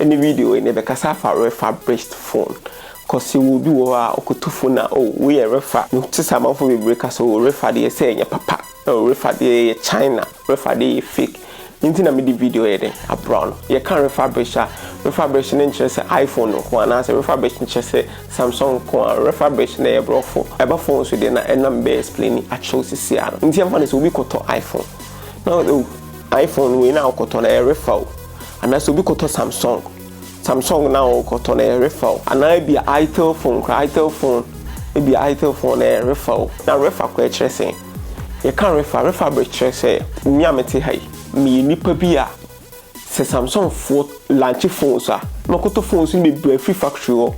ne video yi na yɛbɛkasa afa refurbished phone cause yɛwɔ obi wɔ hɔ a ɔkɔtu phone a oh wei yɛ refa no te sɛ amanfoɔ bebree ka sɛ oh refa deɛ sɛ ɛnyɛ papa oh refa deɛ ɛyɛ China refa deɛ ɛyɛ fake ne nti na mede video yɛ dɛn abra no yɛka refurbished a refurbished no nkyerɛ sɛ iPhone nko anaasɛ refurbished nkyerɛ sɛ Samsung nko a refurbished na ɛyɛ borɔfo ɛba phone so deɛ na ɛna mebɛ explain akyerɛ wo sisi a no nti yɛmfa no sɛ obi kɔtɔ iPhone na oh iPhone wei na wokɔtɔ no ɛyɛ refa o Anaa sɛ obi kɔtɔ Samsung, Samsung na ɔkɔtɔ no ɛrefa o. Anaa ebia Itel phone koraa, Itel phone, ebia Itel phone no ɛrefa o. Na refa koraa ɛkyerɛ sɛn? Yɛka refa, refa bɛ kyerɛ sɛ me a mete ha yi, meyɛ nipa bi a sɛ Samsung foɔ launch phones a, na ɔkɔtɔ phones no bebree afiri factory hɔ.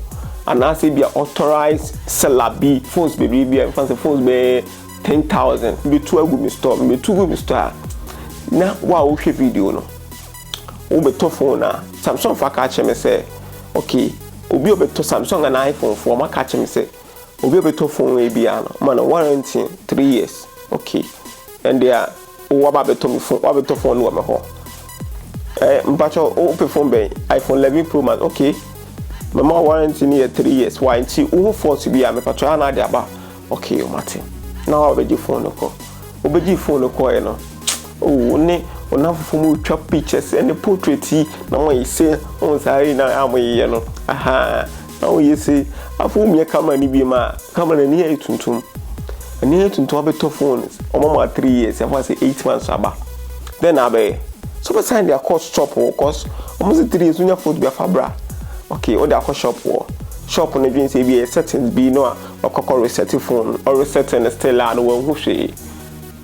Anaa sɛ ebia authorized seller bi phones bebree bi a yɛmfa no sɛ phones bɛyɛ ten thousand, mebetu agu me store, mebetu gu me store a, na wo a wohwɛ video no, Wobɛtɔ phone a, Samsung foɔ aka akyerɛ me sɛ, okay, obi a ɔbɛtɔ Samsung anaa iPhone foɔ, wɔn aka akyerɛ me sɛ, obi a ɔbɛtɔ phone wei biara no, wɔma no warranty three years. Okay, ɛnde a wo waba abɛtɔ me phone, wabɛtɔ phone no wɔ me hɔ. Eh, mpatsɔ, wopɛ phone bɛn? iPhone 11 Pro Max, okay. Mɛma warranty no yɛ three years. Why nti, wohu fault bi a, mepatsɔ yɛ ana ade aba. Okay o mate. Na wa bɛgye phone no kɔ. Wo bɛgyee phone no kɔɔɛ no oh wo ne wo namfofo mo retwa pictures ɛne portrait yi na mo ayi se wohu saa yi na a mo yeyɛ no ahaa na wo ye se afei wo mia camera no biem a camera no ani ayɛ tuntum ani ayɛ tuntum wa bɛtɔ phone wɔn ama wa three years yɛfa se eight months aba dɛn na abɛyɛ so bɛ sign de akɔ shop wɔ cause wɔn se three years wonya phone bi afa bra okay wo de akɔ shop wɔ shop no dwen se ebi yɛ settings bi no a Ɔkɔ kɔ resɛte fon, ɔresɛte no still a na wanhu hwee.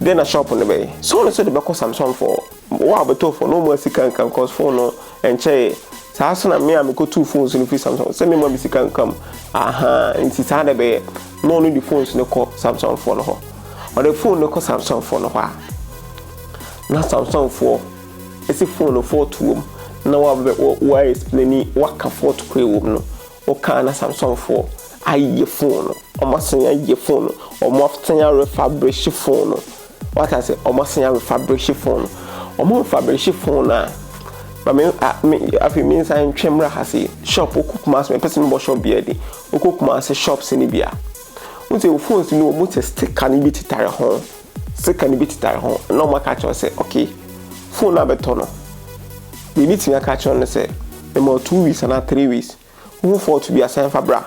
Dɛn na shop no bɛyɛ? Sɛ ɔno nso de bɛkɔ Samsung foɔ. Wo a ɔbɛtɔɔ fon no ɔmmoa sika nka mu cos fon no ɛnkyɛeɛ. Saa nso na me a mekɔtuu phones no firi Samsung sɛ memmoa me sika nka mu. Ahaa, nti saa na ɛbɛyɛ. Na ɔno de phones no kɔ Samsung foɔ no hɔ. Ɔde fon no kɔ Samsung foɔ no hɔ a, na Samsung foɔ ɛsi fon no fault wɔ mu. Na wo a wobɛbɛ, wo, wo a explaini, woaka fault ko a ɛwɔ mu no, Wokaa na Samsɔnfoɔ ayɛ fon no, wɔn asan ayɛ fon no, wɔn asan arefabrehye fon no, wate ase, wɔn asan arefabrehye fon no, wɔn refabrehye fon no a, ma me a me afei me nsan ntwe mmra ha sei, shop wokɔ Kumasi mepɛ sɛ mebɔ shop biara din, wokɔ Kumasi shops no bi a, wohu sɛ wo phones no wɔn sɛ sticker no bi tetare ho. sika no bi tetare ho na wɔn aka akyerɛ sɛ okay phone no abɛtɔ no deɛ ebi tumi aka akyerɛ no sɛ ɛma two weeks anaa three weeks wohu fault bi asan fa bra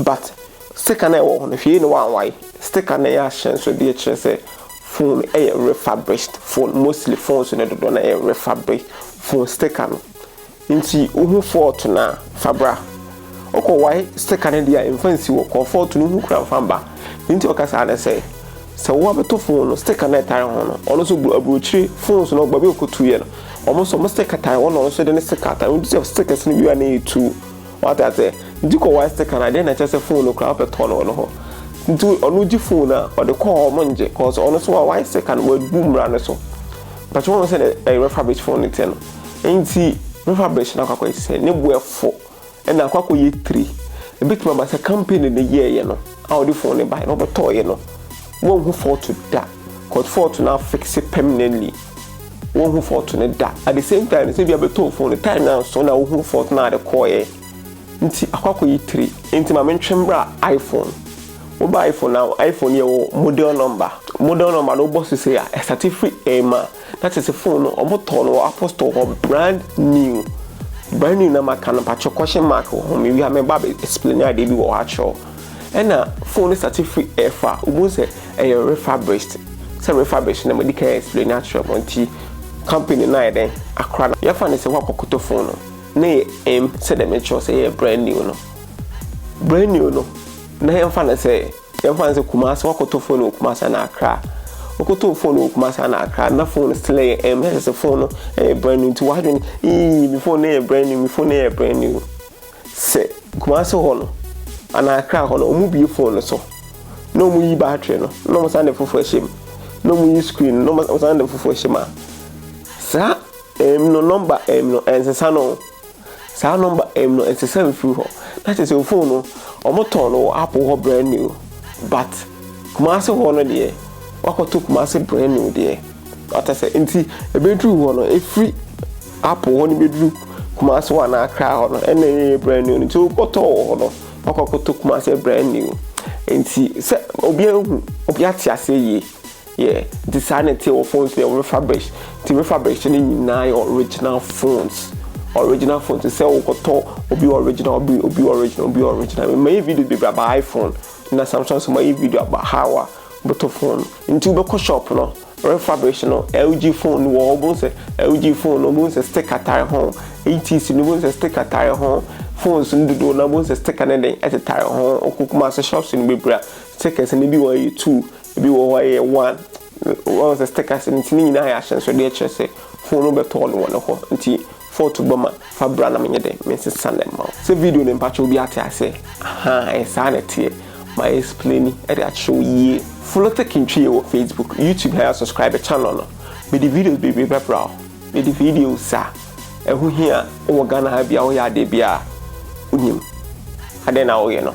but sticker na ɛwɔ ho no hwee na wɔanwae sticker na ɛyɛ ahyɛ nso deɛ kyerɛ sɛ phone ɛyɛ refurbished phone mostly phones no dodoɔ na ɛyɛ refurbished phone sticker no Nti wohu fɔɔto no a fa bra. Ɔkɔ wae steka no deɛ a mfa nsi hɔ kɔ fɔɔto no ho kura mfa mba. Deɛ nti a ɔka saa ne sɛ, sɛ wo abɛto fon no steka no a ɛtare ho no, ɔno nso aburokyire phones no baabi a ɔkɔtuiɛ no, wɔn nso wɔn steka tare hɔ na ɔno nso de ne steka atare ho nti sɛ stekas no wie a na ɛtu. Wate aseɛ? Nti kɔ wae steka no a deɛ na ɛkyerɛ sɛ fon no koraa wopɛ tɔ no wɔ no hɔ. Nti ɔno gye fon no a ɔde kɔ hɔ wɔn ngye cause ɔno nso wawae steka no wabu mmara no so. Mpakyɛ woahu sɛdeɛ refurbish fon no teɛ no? Enti mɛfa bɛhyɛ no akɔ akɔyɛ sɛ ne bo ɛfɔ na akɔ akɔyɛ tire. Ɛbɛtumi aba sɛ kampani no yɛeɛ no a ɔde fon no baeɛ no ɔbɛtɔeɛ no wɔnhu fault da cause fault no afixe permanently. Wɔnhu fault no da. At the same time nso ebia bɛtɔɔ fon no time no anso na wohuu fault no a ɛde kɔeɛ nti akɔ akɔyɛ tire. Enti ma mentwe mmra iPhone. Woba iPhone a iPhone yɛwɔ model number. Model number no wobɔ so sei a ɛstate firi M a. Na te se phone no ɔmo tɔɔ no wɔ Apple store hɔ brand new brand new na maka no mpakyɛw question mark wɔ ho mewie a mɛba abɛ explain adeɛ bi wɔ hɔ akyerɛ wo Ɛna phone no starte firi ɛfa wobohu sɛ ɛyɛ refurbished sɛ refurbished na madi kan explain akyerɛ mo nti company no ayɛ dɛn akora no yɛfa no sɛ woakɔ kɔtɔ phone no na ɛyɛ em sɛdeɛ mekyerɛ wo sɛ ɛyɛ brand new no brand new no na yɛmfa no sɛ. Yɛmfa no sɛ Kumasi, woakɔtɔ fon wɔ Kumasi anaa Accra. Wokɔtɔɔ fon wɔ Kumasi anaa Accra na fon no still yɛ ɛm, na kyerɛ sɛ fon no yɛ brand new nti w'adwene ii me fon no yɛ brand new, me fon no yɛ brand new. Sɛ Kumasi hɔ no anaa Accra hɔ no, wɔbue fon no so na wɔyi battery no na wɔsan de foforɔ hyɛ mu na wɔyi screen no na wɔsan de foforɔ hyɛ mu a, saa ɛm no, nɔmba ɛm no ɛnsesa no. Saa nɔmba M no ɛnsɛ sɛ mfiri hɔ. Na kyerɛ sɛ ofon no ɔmo tɔn no wɔ apple hɔ brand new but Kumasi hɔ no deɛ wakɔ to Kumasi brand new deɛ wate asɛ nti ɛbɛduru hɔ no ɛfiri apple hɔ no bɛduru Kumasi hɔ anaa Accra hɔ no ɛna ɛyɛ brand new nti wokɔ tɔ wɔ hɔ no wakɔ akɔ to Kumasi brand new nti sɛ obiara hu obiara te aseɛ yie. Yeah, nti saa na ɛteɛ wɔ phones deɛ refurbished. Nti refurbished no nyinaa yɛ original phones. Original phones te sɛ wokɔtɔ obi original, obi obi original, obi original. Mayɛ video bebree about iPhone na Samsung so mayɛ video about how a wobɛtɔ phone. Nti wobɛkɔ shop no refurbished no LG phone no wɔ hɔ wobɛhu sɛ LG phone no wobɛhu sɛ sticker tare ho. ATC no wobɛhu sɛ sticker tare ho. Phones no dodoɔ no wobɛhu sɛ sticker no den ɛtetare ho. Wokɔ Kumase shops no bebree a stickers no bi wɔ hɔ a ɛyɛ two Ebi wɔ hɔ a ɛyɛ one. Wahu sɛ stickers no nti ne nyinaa ayɛ ahyɛnsodeɛ kyerɛ sɛ phone no bɛtɔɔ no wɔ ne hɔ nti fault ba mu a fa bra na menyɛ dɛn mensesa no mma wo. Sɛ video no mpakyɛ obi ate aseɛ? Ahaa ɛyɛ saa na ɛteɛ. Mayɛ explaini de akyerɛ wo yie. Follow Tech Ntwie wɔ Facebook, YouTube na yɛ subscribe channel no. Mede videos bebree bɛbra wo. Mede videos a. Ɛho hia wɔ Ghana ha bi a woyɛ adeɛ bi a wonim adɛn na woyɛ no.